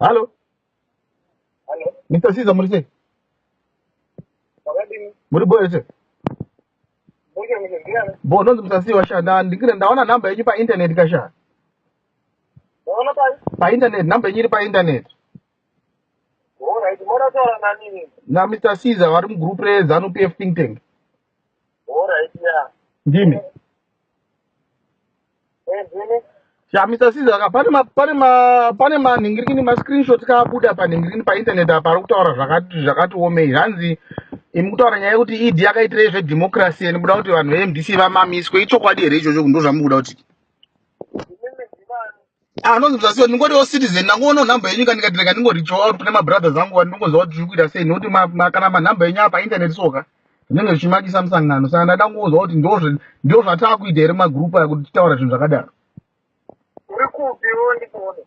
Halo. Halo. Mr. Siza muri sei? Wakadini? Muri boe sei? Boe muri ndiani? Bo ndonzi Mr. Siza washanda ndikire ndaona number yenyu pa internet kasha. Ndaona pa pa internet number yenyu iri pa internet. Alright, mora taura na nini? Na Mr. Siza vari mu group re Zanu PF think tank. Alright, yeah. Ndimi. Eh, ndimi. Yeah, Mr. Caesar, ka pane ma pane ma pane manhingirini ma screenshot kaabuda panhingirini pa internet apa ari kutaura zvakati zvakati omei zvanzi imi kutaura nyaya yekuti ED yakaitira izve democracy and muda kuti vanhu veMDC vamamiswe ichokwadi here ichocho ndozvamukuda kuti anonzi mzasi wani ndingotiwo citizen ndangoona nhamba yenyu kandikatireka ndingorichowa out kune mabrothers angu wani ndingoziva kuti zviri kuita sei nokuti kana manhamba yenyu apa internet soka zvinenge zvichimakisa musangano saka ndada kungoziva kuti ndo zvataa kuita here magroup aya kuti titaura zvinhu zvakadaro uri kupi wo ndikuone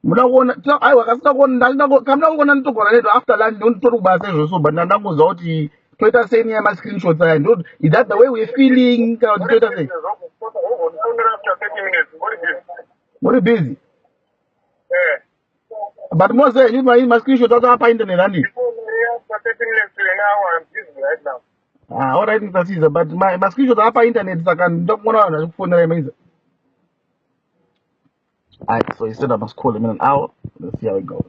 muda kuona aiwa kasina kuona kamda kuona nditogona neto after lunch ndonditori kubasa izvozvo but ndandangoziva kuti toita sei nyaya mascreenshots aya ndo is that the way we're feeling kana kuti toita sei muri busy eh. but mose you my mascreenshot acho apa internet ani ah all right mr caesar but my mascreenshot apa internet saka ndokuona vanhu vachikufonera imaiza All right, so he said I must call him in an hour. Let's see how it goes.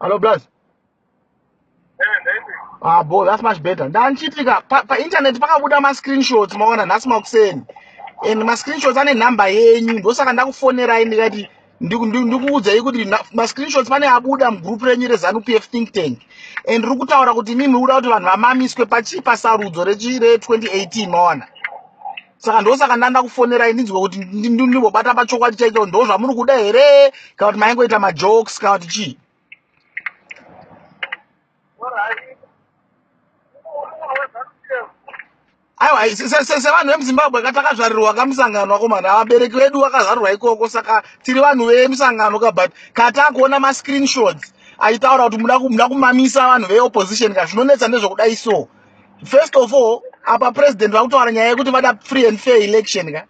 Hello, blaz. Ah, boy, that's much better. Ndanchitika pa, pa internet pakabuda ma screenshots maona nhasi makuseni. And ma screenshots ane number yenyu ndosaka ndakufonerai ndikati ndikuudzai kuti ma screenshots pane abuda mugroup renyu reZanu PF think tank. And ndiri kutaura kuti mimi uda kuti vanhu vamamiswe pachi pasarudzo rechi re 2018 maona. saka ndosaka ndanda kufonerai ndinzwe kuti ndibobata pachokwadi chaicho ndo zvamuri kuda here kana kuti maingoita majokes kana kuti chii aiwa sevanhu vemuzimbabwe ka takazvarirwa ka musangano akomana avabereki vedu vakazvarirwa ikoko saka tiri vanhu vemusangano ka but katakuona mascreenshots aitaura kuti muda kumamisa vanhu veopposition ka zvinonetsa ndezvekudai so first of all apa president vakutaura nyaya yekuti vada free and fair election ka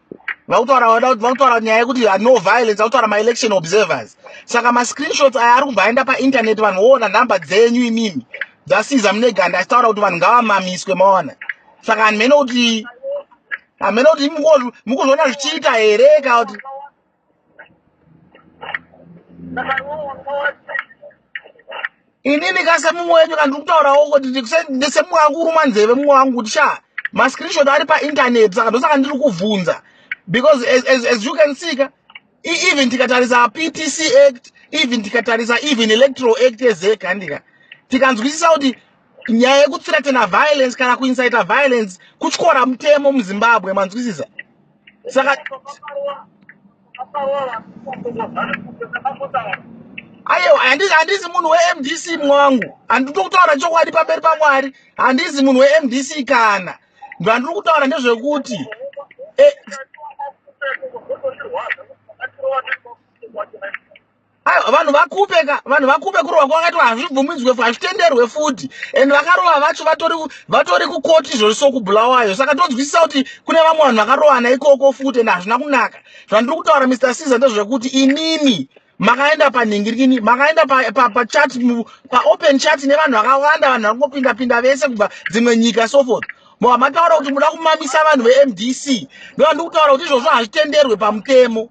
vakutaura nyaya yekuti no violence vakutaura maelection observers saka mascreenshots aya ari kubva aenda painternet vanhu voona nhamba dzenyu imimi dzasiza mune ganda achitaura kuti vanhu ngavamamiswe maona saka hanhu mene kuti hamene kuti mukuzviona zvichiita here ka kuti inini ka semumwe wenyu ka ndiri kutaurawo kuti ndisemumwe wangu kuruma nzeve mumwe wangu kuti sha mascreenshot ari paintaneti saka ndosaka ndiri kubvunza because as, as, as you can see ka even tikatarisa ptc act even tikatarisa even electoral act yezek handika tikanzwisisa kuti nyaya yekuthreatena violence kana kuincita violence kutyora mutemo muzimbabwe manzwisisa saka ayewa handi- handisi munhu wemdc mwangu handito kutaura chokwadi pamberi pamwari handisi munhu wemdc kana ndandiri kutaura ndezvekuti eh, Ah, vanhu vakupe ka vanhu vakupe kurova kwakaitwa hazvibvumidzwe hazvitenderwe futi and vakarova vacho vatori vatori kukoti izvozvi sokubulawayo saka tonzwisisa kuti kune vamwe vanhu vakarovana ikoko futi and hazvina kunaka zvandiri kutaura mr caesar ndezvekuti inini makaenda panhingirikini makaenda pachat paopen chat nevanhu vakawanda vanhu vari kungopinda pinda vese kubva dzimwe nyika so forth moa mataura kuti muda kumamisa vanhu vemdc ndovandiri kutaura kuti izvozvo hazvitenderwe pamutemo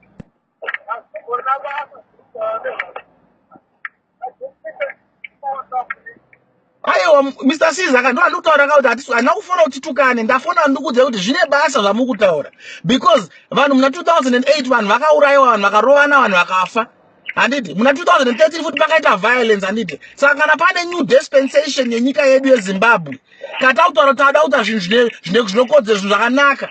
aiwa mr siza ka ndoa ndikutaura ka kuti hatisu handina kufona kuti tukane ndafona ndikuudza kuti zvine basa zvamuri kutaura because vanhu muna 2008 vanhu vakaurayiwa vanhu vakarovana vanhu vakafa handiti muna 2013 futi pakaita violence handiti saka kana pane new dispensation yenyika yedu yezimbabwe kata kutaura kuti ada kuta zvinhu zvinokodzero zvinhu zvakanaka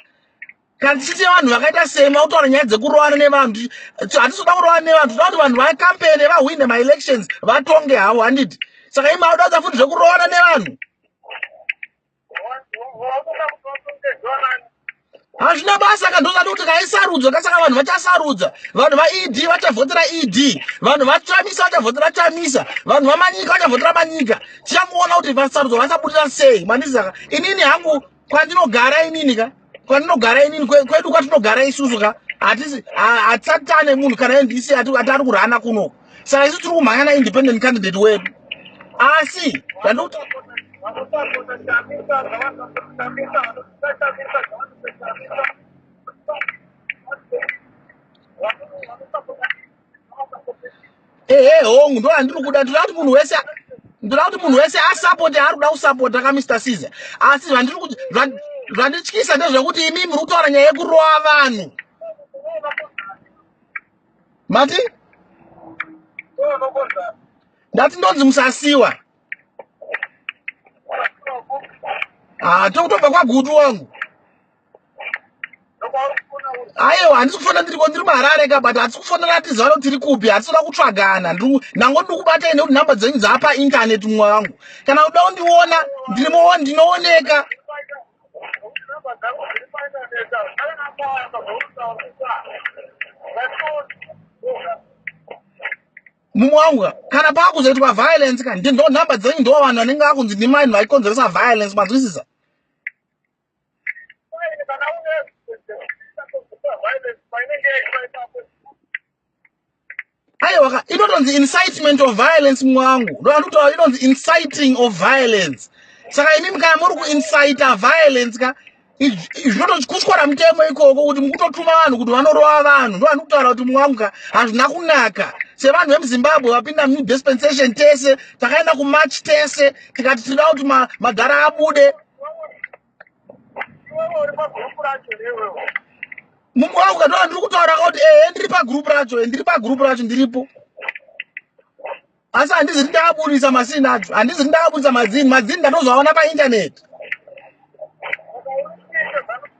kana tichiite vanhu vakaita semi vakutaura nyaya dzekurowana nevanhu hatisoda kurowana nevanhu toda kuti vanhu vacampene vahwine maelections vatonge havo handiti saka imi auda kudza futi zvekurowana nevanhu hazvina basa ka ndozati kuti kaisarudzwa kasaka vanhu vachasarudza vanhu vaed vachavhotera ed vanhu vachamisa vachavhotera chamisa vanhu vamanyika vachavhotera manyika tichangoona kuti vasarudzwa vasabudirira sei mandizaka inini hangu kwandinogara inini ka kwandinogara inini kwedu kwatinogara isusu ka hatisi hatisati tane munhu kana ndc ati ari kurana kunoko saka isu tiri kumhanya na independent candidate wedu asi zvandokuti ehe hongu ndo andiri kuda ndoda kuti munhu wese ndoda kuti munhu wese asapoti ari kuda kusapota ka mr caesar asi zvandiri kuti zvandityisa ndezvekuti imi muri kutaura nyaya yekurova vanhu mati ndati ndonzi musasiwa haa ah, tokutobva kwagutu wangu aiwa handisi kufanira ndiriko ndiri maharare ka but hatisi kufanira tiziva kuti tiri kupi hatisi kuda kutsvagana ndango ndiri kubatai nekuti nhamba dzenyu dzaapa internet mumwe wangu kana kuda kundiona ndiri muoni ndinooneka mumwe wangu ka kana paakuzoitwa violence ka ndo nhamba dzenyu ndo vanhu vanenge vakunzi ndimai vanhu vaikonzeresa violence manzwisisa aiwa inotonzi incitement of violence mwangu ndoandikutaura inonzi inciting of violence saka imi mkaya muri kuincita violence ka zvinotokutyora mutemo ikoko kuti mukutotuma vanhu kuti vanorova vanhu ndoandikutaura kuti mwangu ka hazvina kunaka sevanhu vemuzimbabwe vapinda new dispensation tese takaenda kumarch tese tikati tinoda kuti madhara abude mumwe wangu kataura ndiri kutaura ka kuti ehe ndiri pagroup racho e ndiri pagroup racho ndiripo asi handizi ti ndaaburitsa masini acho handizi ti ndaaburitsa madzini madzini ndatozoaona paintaneti okay,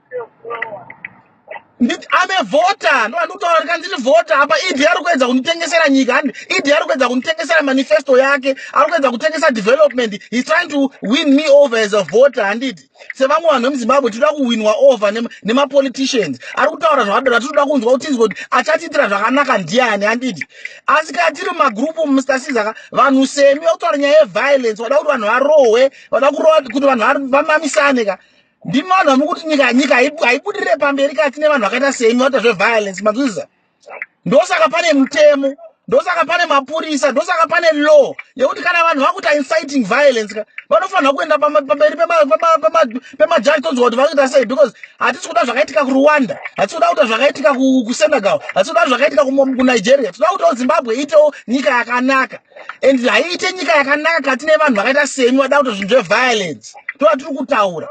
Ndi- I'm a voter ndo andikutaura kuti ndiri voter apa idi ari kuedza kunditengesera nyika handi idi ari kuedza kunditengesera manifesto yake ari kuedza kutengesa development he's trying to win me over as a voter handiti sevamwe vanhu vemuzimbabwe tinoda kuwinwa over nema- nemapoliticians ari kutaura zvakadaro atinoda kunzwa kuti tinzwe kuti achatiitira zvakanaka ndiani handiti asi kana tiri mumagrupu mr sizaka vanhu semi vakutaura nyaya yeviolence vada kuti vanhu varohwe vada kurova kuti vanhu var- vamamisane ka ndimi vanhu vamukuti nyika nyika haibudirire pamberi kana tine vanhu vakaita semi vata zveviolence mazvizviza ndosaka pane mutemo ndosaka pane mapurisa ndosaka pane law yekuti kana vanhu vakuita inciting violence ka vanofanirwa kuenda pamberi pemajaji tonzwa kuti vakuita sei because hatisi kuda zvakaitika kurwanda hatisi kuda kuita zvakaitika kusenegal hatisi kuda zvakaitika kunigeria tinoda kutiwo zimbabwe iitewo nyika yakanaka and haiite nyika yakanaka kati nevanhu vakaita semi vada kuto zvinhu zveviolence tova tiri kutaura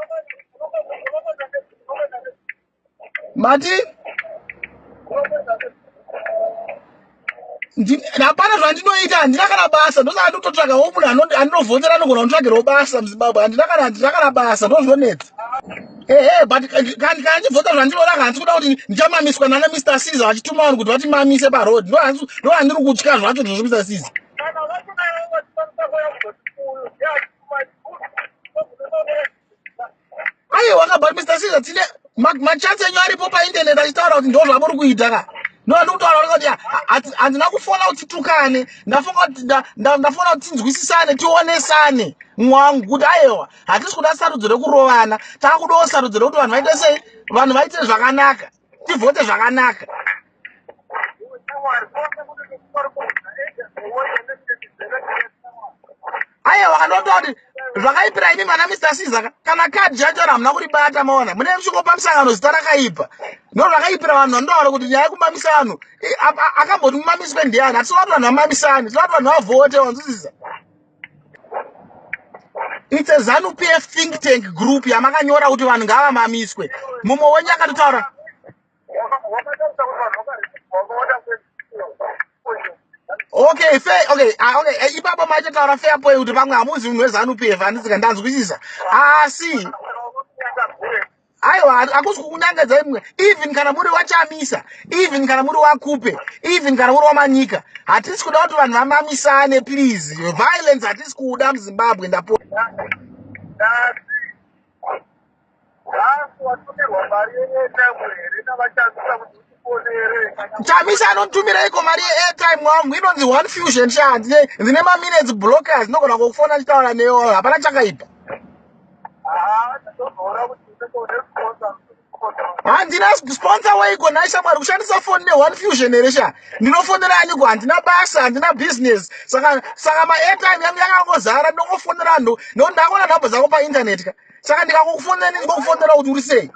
mati hapana zvandinoita handina kana basa ndosaka ndikutotsvaga wo munhu andinovhotera anogona kunditsvagirawo basa muzimbabwe handina kana handina kana basa ndozvinonetsa ehe but kandi kana ndibvota zvandiroda ka handisi kuda kuti ndichamamiswa nana mr cesar vachituma vanhu kuti vatimamise paroad ndo handiri kutya zvacho zvozvo mr cesar aiwa ka but mr cesar tine machansi enyu aripo painternet achitaura kuti ndo zvamuri kuita ka no handiri kutaura kuti handina kufona kuti tukane ndafona kuti tinzwisisane tionesane mwangu kuti aiwa hatisi kuda sarudzo rekurovana takudawo sarudzo rekuti vanhu vaite sei vanhu vaite zvakanaka tivhote zvakanaka aiwa wakandotoa kuti zvakaipira imi vana mr siza kana kadhi yacho ri hamuna kuribata maona mune musvikopa musangano zita rakaipa no zvakaipira vanhu vanotaura kuti nyaya yekumamisa vanhu akamboti mumamiswe ndiyani hatisi vati vanhu vamamisani tinoati vanhu vavhote wanzwisisa its a zanu p f think tank group yamakanyora kuti vanhu ngavamamiswe mumwe wenyu akatotaura okay fe okay ah, okay eh, ipapa maitotaura fair point kuti pamwe hamuzi munhu wezanu p f handisika ndanzwisisa asi ah, aiwa hakusi kukunyangadzai mwe even kana muri wachamisa even kana muri wakupe even kana muri wamanyika hatisi kuda kuti vanhu vamamisane please violence hatisi kuuda muzimbabwe ndapoo chamisa anotumiraiko mari yeairtime wangu inonzi one fusion sha ndine maminutes blockers ndinogona kukufona nditaura neyo hapana chakaipa handina sponsor waiko nhai shamwari kushandisa foni neone fusion here sha ndinofonera aniko handina basa handina business saka saka maairtime yangu yakangozara ndongofonera anhu nokuti ndakona nhamba dzako paintaneti ka saka ndikakufonera ndinzi kokufonera kuti uri sei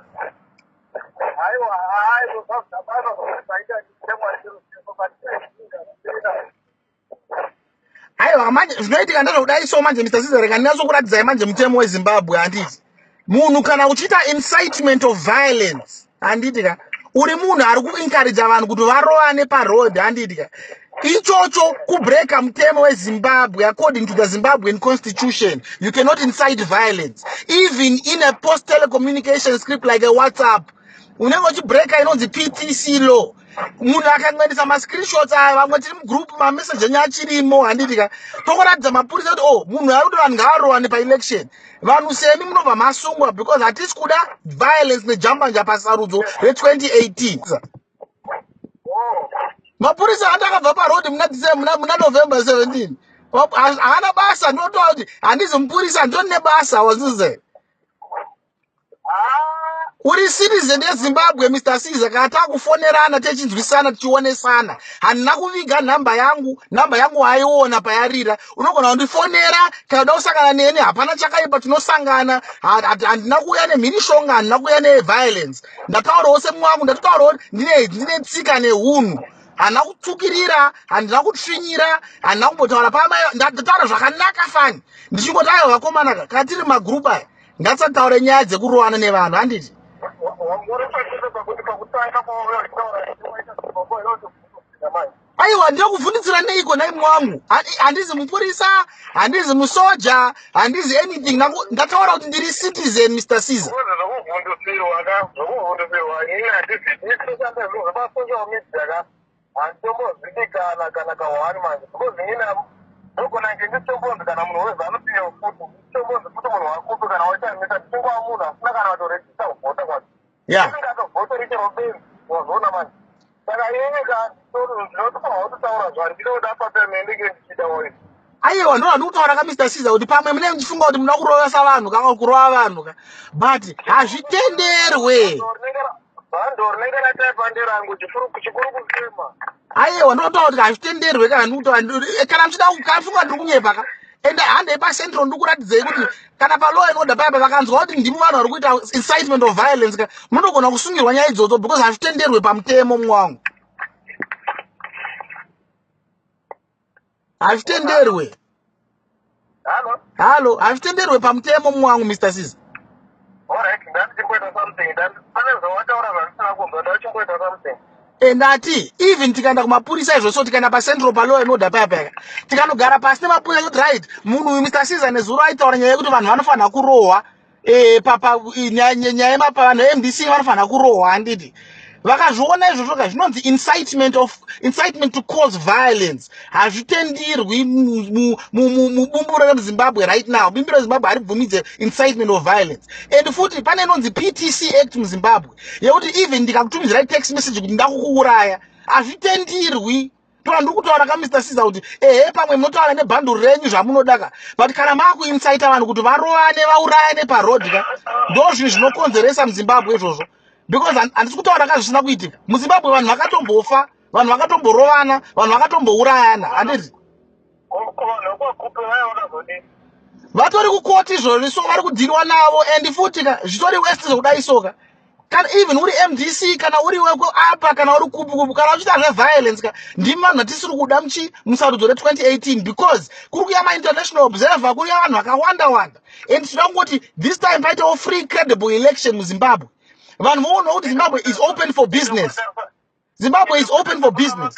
aiwa manje zvinoitika ndezvekudai so manje mr sizer kandinyasokuratidzai manje mutemo wezimbabwe handiti munhu kana uchiita incitement of violence handiti ka uri munhu ari kuinkarija vanhu kuti varovane paroad handiti ka ichocho kubreka mutemo wezimbabwe according to the zimbabwean constitution you cannot incite violence even in a post telecommunication script like a whatsapp unenge uchibreka inonzi ptc law munhu akangoendesa mascreenshots aya vamwe tiri mugroup mamessage enyu achirimo handiti ka tokuratidza mapurisa kuti oh munhu ari kuti vanhu ngaarowane paelection vanhu semi munobva masungwa because hatisi kuda violence nejambanja pasarudzo re2018 mapurisa ati akabva parodi muna december muna november 17 haana basa ndinotoa kuti handizi mupurisa ndiro nebasa wazize Uri citizen yeZimbabwe Mr Caesar kana takufonerana techinzwisana tichionesana handina kuviga nhamba yangu nhamba yangu waiona payarira unogona kundifonera kana uda kusangana neni hapana chakaipa tinosangana handina kuuya nemhirishonga handina kuuya neviolence ndataurawo semumwe wangu ndatotaurawo ndine ndine tsika neunhu handina kutsukirira handina kutsvinyira handina kumbotaura pamai ndataura zvakanaka fani ndichingotaura vakomana kana tiri magroup aya ngatisataure nyaya dzekurowana nevanhu handiti aiwa ndokuvhundidzira neiko naimwe wangu handizi mupurisa handizi musoja handizi anything ndataura kuti ndiri citizen mr caesar handitombozivikana kana ka one manje because nina ndogona nge nditombonzi kana munhu wezanu piyo futi nditombonzi futi munhu wakupi kana waitaimisa tichingova munhu asina kana vatorejista kuvhota kwacho inenge atovhota richero benzi wazoona manje saka ini ka ndinotofanira kutotaura zvandiroda papemenenge ndichida waii ayewa ndo vandikutaura ka mr siza kuti pamwe mune muchifunga kuti munoda kurovesa vanhu ka kurova vanhu ka but hazvitenderwe ayewa ndinotaura kuti hazvitenderwe kana ndikutaura kana muchida kana muchifunga ndiri kunyepa ka and handei pacentral ndikuratidzei kuti kana palaw inoda paya pavakanzwa kuti ndimi vanhu vari kuita incitement of violence ka munogona kusungirwa nyaya idzodzo because hazvitenderwe pamutemo mumwe wangu hazvitenderwe halo hazvitenderwe pamutemo mumwe wangu mr sis and ati even tikaenda kumapurisa izvo so tikaenda pacentral paloya inoda paya paya tikanogara pasi nemapurisa yoti right munhu uyu mr cesar nezuro aitaura nyaya yekuti vanhu vanofanira kurohwa eh papa nyaya yemapa vanhu vemdc vanofanira kurohwa handiti vakazviona izvozvo ka zvinonzi incitement of incitement to cause violence hazvitendirwi mubumbiro remuzimbabwe right now bumbiro rezimbabwe haribvumidze incitement of violence and futi pane inonzi ptc act muzimbabwe yekuti even ndikakutumizirai text message kuti ndakukuuraya hazvitendirwi ndoa ndiri kutaura ka mr siza kuti ehe pamwe munotaura nebhanduru renyu zvamunodaka but kana maakuinsaita vanhu kuti varovane vaurayane paroad ka ndo zvinhu zvinokonzeresa muzimbabwe izvozvo because handisi kutaura ka zvisina kuitika muzimbabwe vanhu vakatombofa vanhu vakatomborovana vanhu vakatombourayana handiti vatori kukoti izvozvi so vari kudhiriwa navo and futi ka zvitori west zvokudai soka kana even uri mdc kana uri weko apa kana uri kupi kupi kana uchiita zveviolence ka ndimi vanhu vatisiri kuda muchi musarudzo re2018 because kuri kuya mainternational observer kuri kuya vanhu vakawanda wanda and tinoda kungoti this time paitawo free credible election muzimbabwe vanhu voonwa kuti zimbabwe is open for business zimbabwe is open for business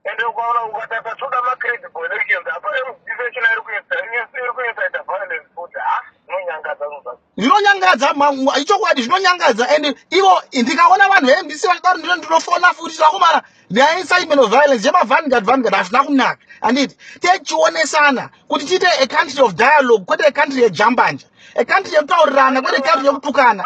and ukaona ukataka toda macredit connection apa mdisechina iri kuita iri kuita ita violence futi ha inonyangadza zvinhu zvinonyangadza mangu ichokwadi zvinonyangadza and ivo ndikaona vanhu vembc vachidaro ndino ndinofona futi vakomana nyaya incitement of violence yemavangard vangard hazvina kunaka anditi techionesana kuti tiite a country of dialogue kwete a country yejambanja a country yekutaurirana kwete country yekutukana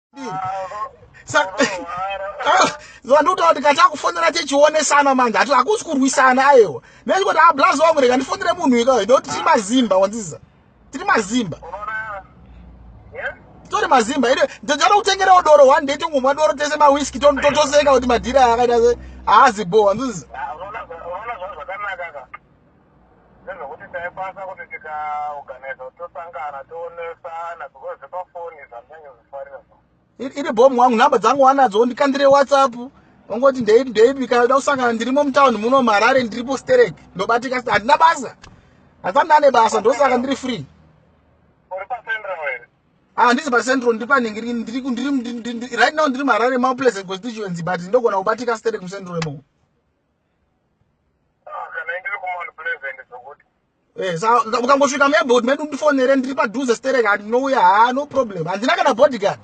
ndikutaura kuti kati akufonera tichionesana manje ati hakusi kurwisana ayewa nechikoti ablas ah, wangu rega ndifonere munhu ikayo ndokuti tiri mazimba wanziza tiri mazimba tori mazimba ine ndinoda kutengerawo doro one day tongomwa doro tese mawiski totoseka kuti madhira akaita se haazi bho wanziza Ndezvekuti taikwanisa kuti tikaorganiza kuti tosangana toonesana because zvepafoni zvandinenge zvifarira zvo. Iri iri bhomu wangu nhamba dzangu wanadzo ndikandire WhatsApp. Ungoti ndeipi ndeipi kana uda kusangana ndirimo mutown muno muHarare ndiripo sterek. Ndobatika sti- handina basa. Handisati ndane basa ndosaka ndiri free. Uri paCentral here? Ah handisi paCentral ndiri panenge ndiri ndiri ku- ndiri ndiri- ndiri- right now ndiri muHarare mau pleasant constituency but ndogona kubatika sterek muCentral imomo. Eh, ukangosvika muairport medu ndifonere ndiri padhuze sterek handinouya haa no problem handina kana bodyguard